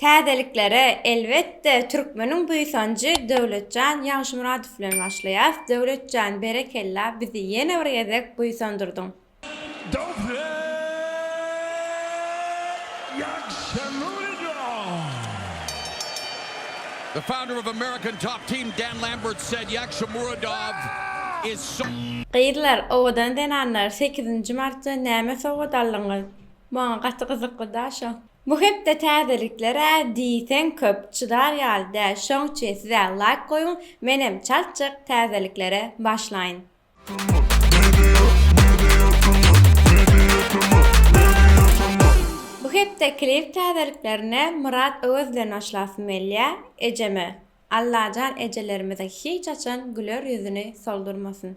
Täzeliklere, elbetde, türkmeniň buýsanjy Döwletjan Ýagşymyradow bilen başlaýas. Döwletjan, berekella, bizi ýene bir gezek buýsandyrdyň. Gyzlar, owadan zenanlar, sekizinji martda näme sowgat aldyňyz? Maňa gaty gyzykly-da şo. Bu hepde täzeliklere diýseň köp, çydar ýaly däl şoňçe size laýk goýuň menem çalt çyk täzeliklere başlaýyn. Bu hepde klip täzeliklerine Myrat Öwez bilen başlasym gelýä Ejeme Allajan ejelerimiziň hiç haçan güler ýüzüni soldurmasyn.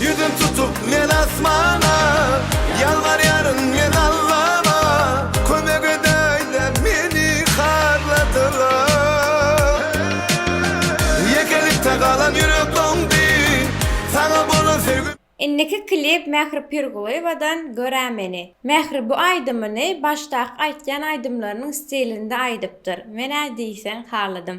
Ýüzüm tutup men asmana, Ýalbarýaryn men Allama, Kömek edäýdä meni harladylar. Ýekelikde galan ýürek doňdy, Saňa bolan söýgim. Indiki klip Mähri Pirgulyýewadan Görä meni. Mähri bu aýdymyny başdaky aýtýan aýdymlarynyň stilinde aýdypdyr. Men-ä diýseň haladym.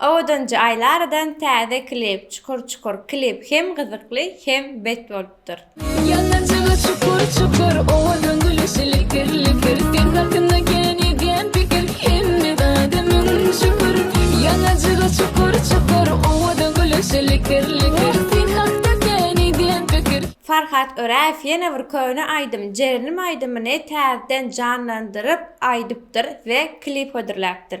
Owadanjy Aýlaradan täze klip çukur çukur klip hem gyzykly hem bet bolupdyr. Ýanajyga çukur çukur owadan gülüşi likir likir seň hakynda kän edýän pikir hemme zada müň şükür Ýanajyga çukur çukur owadan gülüşi likir likir seň hakda kän edýän pikir. Farhat Öräýew ýene bir köne aýdym Jerenim aýdymyny täzeden janlandyryp aýdypdyr we klip hödürläpdir.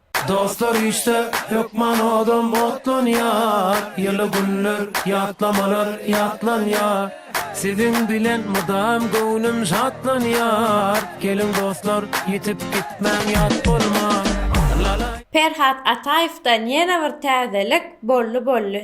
Dostlar işde, hökman odam otlanýar, Ýyly günler, ýatlamalar ýatlanýar. Siziň bilen mydam göwnüm şatlanýar, Geliň dostlar, ýitip gitmäň ýat bolmaz. Perhat Ataýewden ýene bir täzelik, bolly bolly.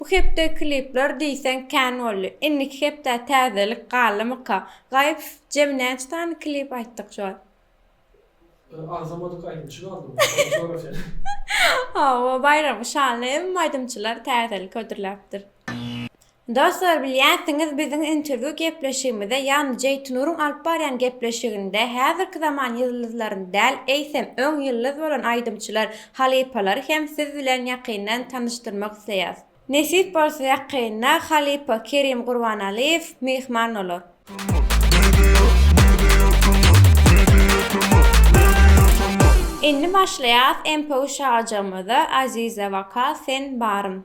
Bu hepde klipler diýseň kän boldy. Indiki hepdä täzelik galdymyka? Gaýyp jemi näçe sany klip aýtdyk şu wagt? Bir agzamadyk aýdymçy galdy bu. Ony sora sen. Hawa, baýramy şanly hemme aýdymçylar täzelik hödürläpdir. Dostlar bilýänsiňiz biziň interwýu gepleşigimize ýagny Jeýtnuryň alyp barýan gepleşiginde häzirki zaman ýyldyzlaryny däl eýsem öň ýyldyz bolan aýdymçylar Halypalary hem siz bilen ýakyndan tanyşdyrmak isleýäs. Nesip bolsa ýakynda halypa Kerim Gurbanaliýew myhman bolar. Indi başlaýas MPU şagajygymyza Aziza waka sen barym.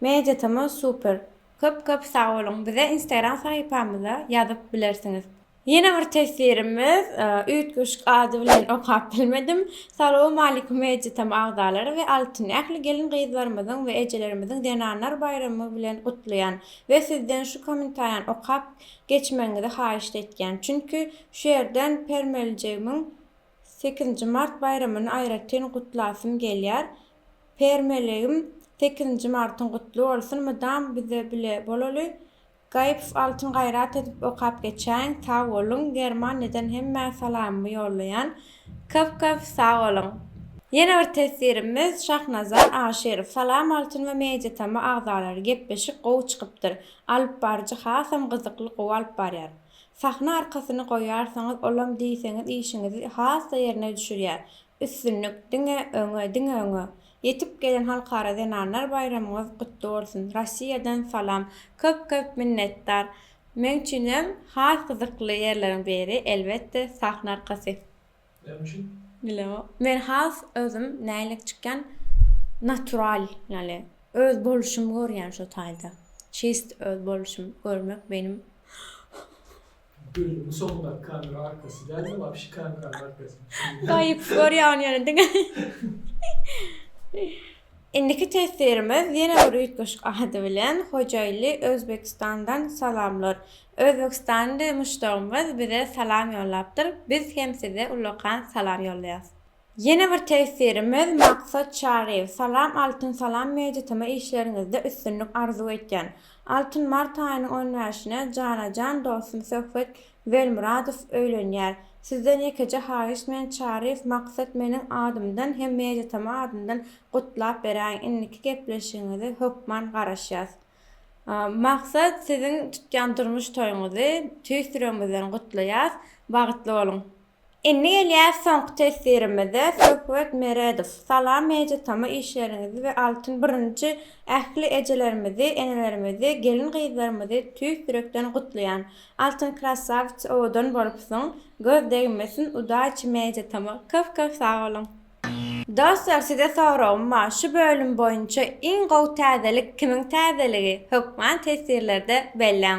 Media tama super. Köp köp sag boluň. Bize instagram sahypamyza ýazyp bilersiňiz. Ýene bir teswirimiz üýtgeşik ady bilen okap bilmedim. Salowmalikum Media tama agzalary we Altyn ähli gelin gyzlarymyzyň we ejelerimiziň zenanlar baýramy bilen gutlaýan we sizden şu komentariýany okap geçmegiňizi haýyşt etýän çünki şu ýerden permelijegimin sekizinji mart baýramyny aýratyn gutlasym gelýär Permelegim sekizinji martyň gutly bolsun mydam bize bile bolaly Gaýypow Altyn gaýrat edip okap geçäýiň sag boluň Germaniýadan hemmä salamymy ýollaýan köp köp sag boluň Ýene bir teswirimiz Şahnazar Aşyrow Salam Altyn we Mediatama agzalary gepleşik gowy çykypdyr alyp baryjy hasam gyzykly gowy alyp barýar sahna arkasyny goýarsaňyz olam diýseňiz işiňizi has-da ýerine düşürýär Üstünlik diňe öňe diňe öňe. Ýetip gelen Halkara zenanlar baýramyňyz gutly bolsun. Rossiýadan salam. Köp köp minnetdar. Meň üçin hem has gyzykly ýerleriň biri elbetde sahna arkasy. Näme üçin? Bileo. Men has özüm nälik çykýan natural ýaly öz boluşymy görýän şo taýda. Çist öz boluşym görmek menim. Gül bu soňundaky kamera arkasy dälmi wapşe kameranyň arkasy. Gaýyp görýän ýene diňe. Indiki teswirimiz ýene bir üýtgeşik ady bilen Hojaýly Özbekistandan salamlar. Özbekistanly muşdagymyz bize salam ýollapdyr, biz hem size ullakan salam ýollaýas. Ýene bir tesirimiz Maksat Çaryýew. Salam Altyn Salam Media TM işleriňizde üstünlik arzuw etýän. Altyn Mart aýynyň on bäşine jana jan dostum Söhbet Welmuradow öýlenýär. Sizden ýekeje haýyş men Çaryýew Maksat meniň adymdan hem Media TM adyndan gutlap beräýiň indiki gepleşigiňizi hökman garaşýas. Maksat siziň tutýan durmuş toýuňyzy tüýs ýüregimizden gutlaýas. Bagtly boluň. Indi gelýäs soňky teswirimize, Söhbet Meredow. Salam Media Tama işleriňizi we Altyn birinji ähli ejelerimizi, enelerimizi, gelin-gyzlarymyzy tüýs ýürekden gutlaýan. Altyn krassawica owadan bolupsyň, göz degmesin, udaçi Media Tama. Köp köp sag boluň. Dostlar size soragym bar şu bölüm boýunça iň gowy täzelik kimiň täzeligi hökman teswirlerde belläň.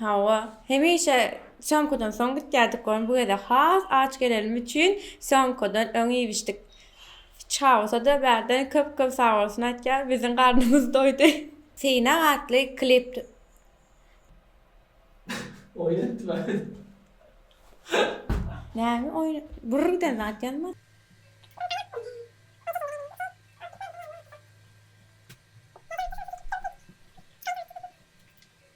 Hawa, hemişe sýomkadan soň gitýärdik gör, bu gezek has aç gelenimi üçin sýomkadan öň iýibişdik. Çawsa-da bärden köp-köp sagbolsun aýtýar, biziň garnymyz doýdy. Synak atly klip t. Näme oýun Brrrden zat ýazmadyk.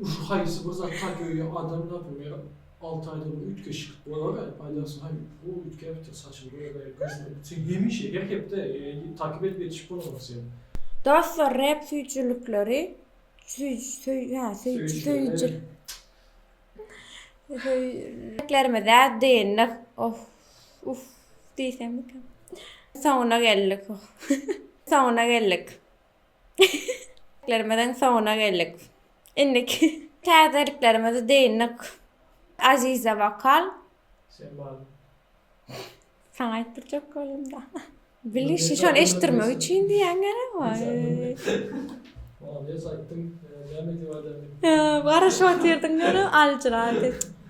Uşi haýsy bir zat taş öýe adam tapyňa alty aýdan üýtgeşik bolar el paýlasy haý bu üýtgäpdir saçyny boýaberýär görsene sen hemişe her hepde takyp edip ýetişip bolmaly sen. Dostlar rep süýjülikleri söýüjiliklerimize dyndyk oh uff diýsemmikä soňuna geldik oh soňuna geldik. Lerimiziň soňuna geldik. Indiki täzeliklerimizi dyndyk. Aziza Wakal. Şemal. Saňa aýtdyrjak bolumda. Bilişi şony eşitdirmek üçin diýýän gerek wol. Molodýes aýtdyň. Näme diýip aýdaýyn. Garaşyp otyrdyň görüp aljyradyp.